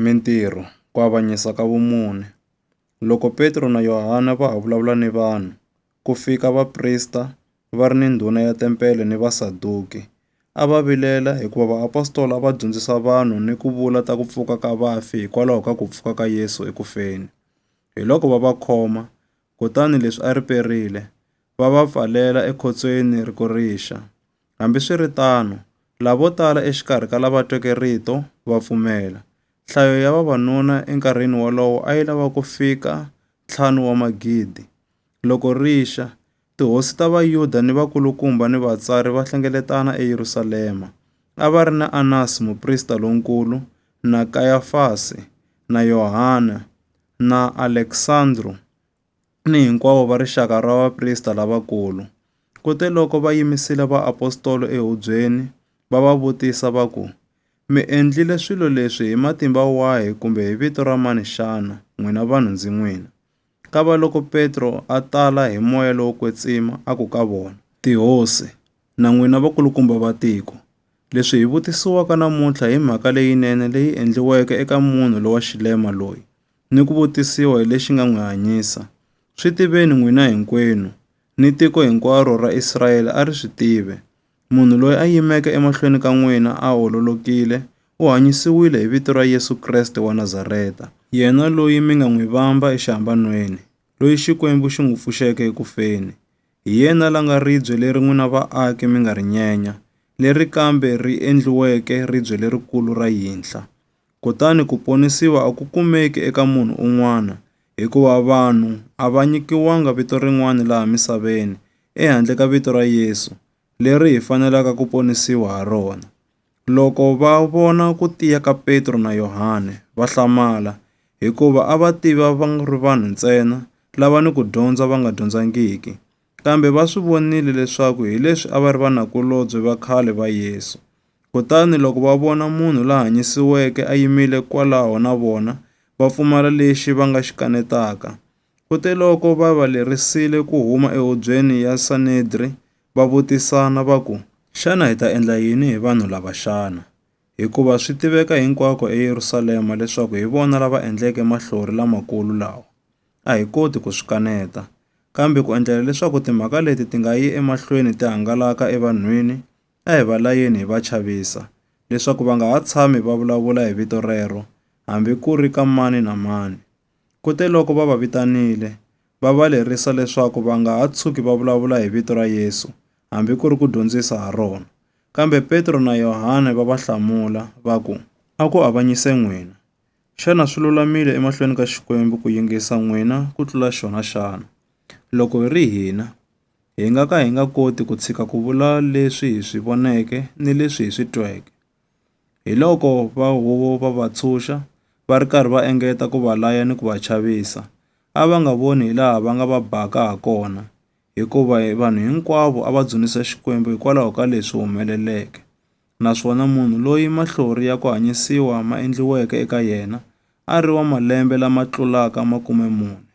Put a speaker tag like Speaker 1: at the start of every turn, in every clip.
Speaker 1: Mintirho, Ku avanyisa ka vumune. Loko Petro na Yohana va ha vulavula ni vanhu, ku fika vaprista va ri ni ndhuna ya tempele ni Vasaduki. A va vilela hikuva vaapostola a va dyondzisa vanhu ni ku vula ta ku pfuka ka vafi hikwalaho ka ku pfuka ka Yesu eku feni. Hi loko va va khoma, kutani leswi a riperile, va va pfalela ekhotsweni ri ku rixa. Hambiswiritano, lavo tala exikarhi ka lava tweke rito va pfumela. Nhlayo ya vavanuna enkarhini wolowo a yi lava ku fika ntlhanu wa magidi. Loko rixa, tihosi ta Vayuda ni vakulukumba ni vatsari va hlengeletana eYerusalema. A va ri na Anasi muprista lonkulu, na Kayafasi, na Yohana, na Aleksandro, ni hinkwavo va rixaka ra vaprista lavakulu. Kuteloko va yimisile vaapostolo ehubyeni, va va vutisa va ku, Mi endlile swilo leswi hi matimba wahi kumbe hi vito ra mani xana, n'wina vanhu ndzi n'wina? Kavaloko Petro a tala hi moya lowo kwetsima, a ku ka vona, Tihosi, na n'wina vakulukumba va tiko, leswi hi vutisiwaka namuntlha hi mhaka leyinene leyi endliweke eka munhu lowa xilema loyi. ni ku vutisiwa hi lexi nga n'wi hanyisa. Swi tiveni n'wina hinkwenu, ni tiko hinkwaro ra Israyele a ri swi tive. Munhu loyi a yimeke emahlweni ka n'wina a ololokile, u hanyisiwile hi vito ra Yesu Kreste wa Nazareta. Yena loyi mi nga n'wi vamba exihambanweni, loyi Xikwembu xi n'wi pfuxeke eku feni. Hi yena la nga ribye leri n'wina vaaki mi nga ri nyenya, leri kambe ri endliweke ribye lerikulu ra yinhla. kutani ku ponisiwa a ku kumeki eka munhu un'wana, hikuva vanhu a va nyikiwanga vito rin'wana laha misaveni ehandle ka vito ra Yesu, leri hi fanelaka ku ponisiwa ha rona. Loko va vona ku tiya ka Petro na Yohane, va hlamala, hikuva a va tiva va ri vanhu ntsena lava ni ku dyondza va nga dyondzangiki. Kambe va swi vonile leswaku hi leswi a va ri vanakulobye va khale va Yesu. Kutani loko va vona munhu la hanyisiweke a yimile kwalaho na vona, va pfumala lexi va nga xi kanetaka. Kuteloko va va lerisile ku huma ehubyeni ya Sanedri, va vutisana va ku, Xana hi ta endla yini hi vanhu lava xana? Hikuva swi tiveka hinkwako eYerusalema leswaku hi vona lava endleke mahlori lamakulu lawa. a hi koti ku swi kaneta. Kambe ku endlela leswaku timhaka leti ti nga yi emahlweni ti hangalaka evanhwini, a hi va layeni hi va chavisa, leswaku va nga ha tshami va vulavula hi vito rero, hambi ku ri ka mani na mani. Kuteloko va va vitanile, va va lerisa leswaku va nga ha tshuki va vulavula hi vito ra Yesu, hambi ku ri ku dyondzisa ha rona. Kambe Petro na Yohane va va hlamula, va ku, A ku avanyise n'wina! Xana swi lulamile emahlweni ka Xikwembu ku yingisa n'wina ku tlula xona xana? Loko hi ri hina, hi nga ka hi nga koti ku tshika ku vula leswi hi swi voneke ni leswi hi swi tweke. Hiloko va huvo va va tshunxa, va ri karhi va engeta ku va laya ni ku va chavisa, a va nga voni hilaha va nga va baka hakona, hikuva vanhu hinkwavo a va dzunisa Xikwembu hikwalaho ka leswi humeleleke. naswona munhu loyi mahlori ya ku hanyisiwa ma endliweke eka yena a ri wa malembe lama tlulaka makume mune.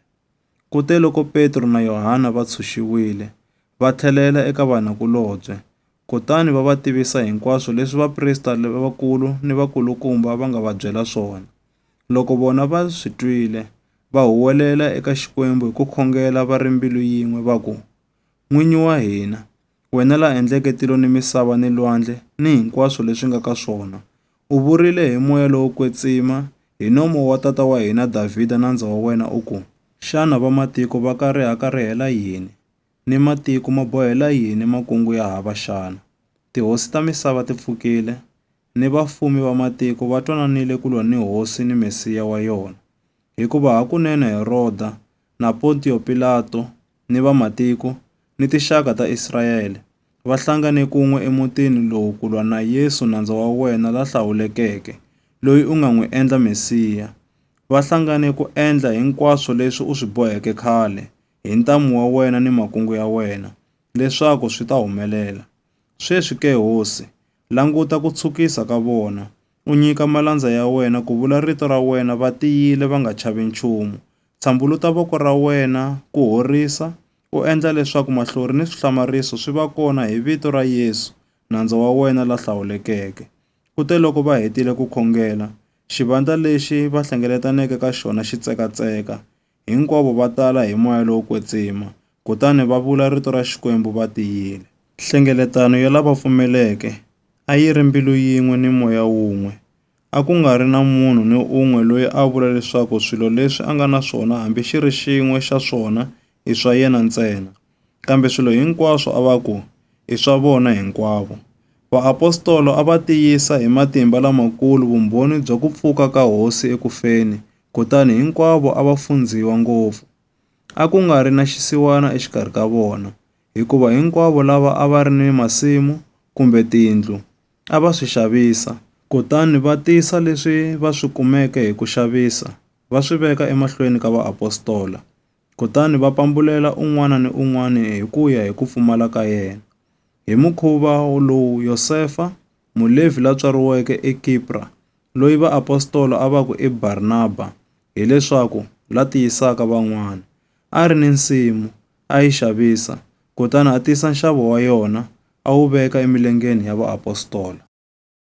Speaker 1: Kute loko Petro na Yohana va tshunxiwile, va tlhelela eka vanakulobye, kutani va va tivisa hinkwaswo leswi vaprista lavakulu ni vakulukumba va nga va byela swona. Loko vona va swi twile, va huwelela eka Xikwembu hi ku khongela va ri mbilu yin'we va ku, N'winyi wa hina, wena la endleke tilo ni misava ni lwandle ni hinkwaswo leswi nga ka swona, u vurile hi moya lowo kwetsima hi nomo wa tata wa hina Davhida nandza wa wena u ku, Xana vamatiko va ka rihakarihela yini, ni matiko ma bohela yini makungu ya hava xana? Tihosi ta misava ti pfukile, ni vafumi va matiko va twananile ku lwa ni Hosi ni Mesiya wa yona. Hikuva hakunene Heroda na Pontiyo Pilato, ni vamatiko, ni tinxaka ta Israele, va hlangane kun'we emutini lowu ku lwa na Yesu nandza wa wena la hlawulekeke, loyi u nga n'wi endla Mesiya. Va hlangane ku endla hinkwaswo leswi u swi boheke khale, hi ntamu wa wena ni makungu ya wena, leswaku swi ta humelela. Sweswi ke, Hosi, languta ku tshukisa ka vona, U nyika malandza ya wena ku vula rito ra wena va tiyile va nga chavi nchumu. Tshambuluta voko ra wena ku horisa, u endla leswaku mahlori ni swihlamariso swi va kona hi vito ra Yesu, Nandza wa wena la hlawulekeke. Kuteloko va hetile ku khongela, xivandla lexi va hlengeletaneke ka xona xi tsekatseka. Hinkwavo va tala hi moya lowo kwetsima, kutani va vula rito ra Xikwembu va tiyile. Nhlengeletano ya lava pfumeleke a yi ri mbilu yin'we ni moya wun'we. A ku nga ri na munhu ni un'we loyi a vula leswaku swilo leswi a nga na swona hambi xi ri xin'we xa swona i swa yena ntsena, kambe swilo hinkwaswo a va ku i swa vona hinkwavo. Vaapostolo a va tiyisa hi matimba lamakulu vumbhoni bya ku pfuka ka Hosi eku feni Kutani hinkwavo a va fundziwa ngopfu. A ku nga ri na xisiwana exikarhi ka vona, hikuva hinkwavo lava a va ri ni masimu kumbe tindlu a va swi xavisa, kutani va tisa leswi va swi kumeke hi ku xavisa va swi veka emahlweni ka vaapostola, kutani va pambulela un'wana ni un'wana hi ku ya hi ku pfumala ka yena. Hi mukhuva lowu Yosefa, Mulevhi la tswariweke eKipra, loyi vaapostola a va ku i Barnaba, hileswaku la tiyisaka van'wana. A ri ni nsimu, a yi xavisa, kutani a tisa nxavo wa yona a wu veka emilengeni ya vaapostola.